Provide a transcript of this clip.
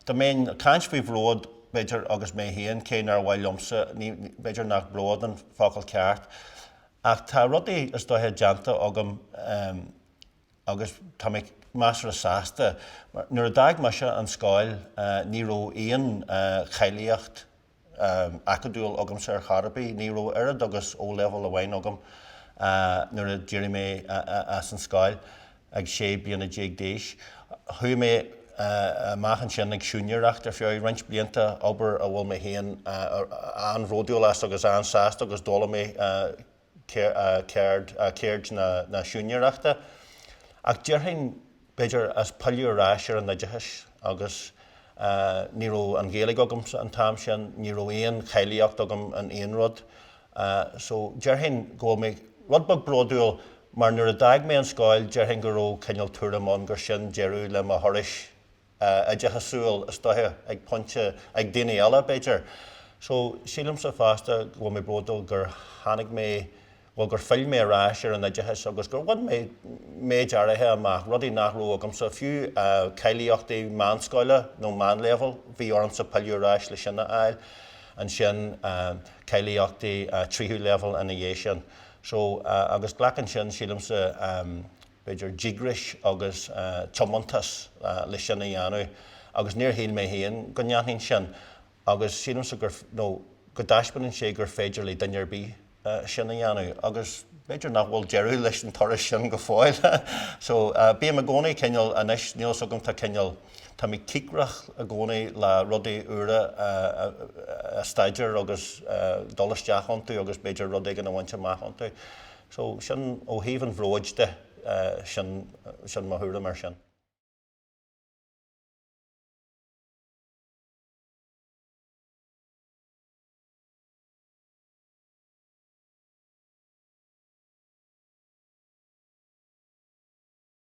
Dá mbeinn ag caint faoi bhród, b'fhéidir, agus mé féin, cé nár mhaith liomsa, b'fhéidir nach bród an focal ceart, ach tá rudaí is dóiche déanta agam agus tá mé measartha sásta. Nuair a d'fhág mise an scoil ní raibh aon cháilíocht, acadúil agamsa ar chor ar bith. Ní raibh oiread agus O-Level amháin agam nuair a d'éirigh mé as an scoil ag sé bliana déag d'aois. Chuaigh mé amach ansin ag siúinéireacht ar feadh roinnt blianta, obair a bhfuil mé féin an-bhródúil as agus an-sásta agus d'fhoghlaim mé, ceird na siúinéireachta, ach déarfainn, b'fhéidir, as pilleadh ar ais ar an oideachas agus ní raibh an Ghaeilge agamsa an t-am sin, ní raibh aon cháilíocht agam in aon rud so déarfainn go bhfuil mé rud beag bródúil mar nuair a d'fhág mé an scoil déarfainn go raibh cineál tuairim ann gur sin deireadh le mo thuras. oideachasúil, is dócha, ag pointe, ag daoine eile, b'fhéidir. So, sílimse fosta go bhfuil mé bródúil gur tháinig mé, bhuel, gur phill mé ar ais ar an oideachas agus gur bhain mé méid áirithe amach, rudaí nach raibh agamsa, fiú cáilíochtaí meánscoile nó meánléibheal, bhí ormsa pilleadh ar ais leis sin a fháil, ansin cáilíochtaí tríú léibheal ina dhiaidh sin. So, agus glacann sin, sílimse, b'fhéidir, díograis agus tiomantas leis sin a dhéanamh agus níor shíl mé féin go ndéanfainn sin agus sílimse gur, nó go dtaispeánann sé gur féidir le duine ar bith sin a dhéanamh agus b'fhéidir nach bhfuil deireadh leis an turas sin go fóill so bím i gcónaí cineál, anois, níl 's agam, tá cineál, tá mé cíocrach i gcónaí le rudaí úra a staidéar agus dul isteach iontu agus b'fhéidir rud éigin a bhaint amach iontu. So, sin, ó thaobh an bhróid de, sin, sin mo thuairim ar sin.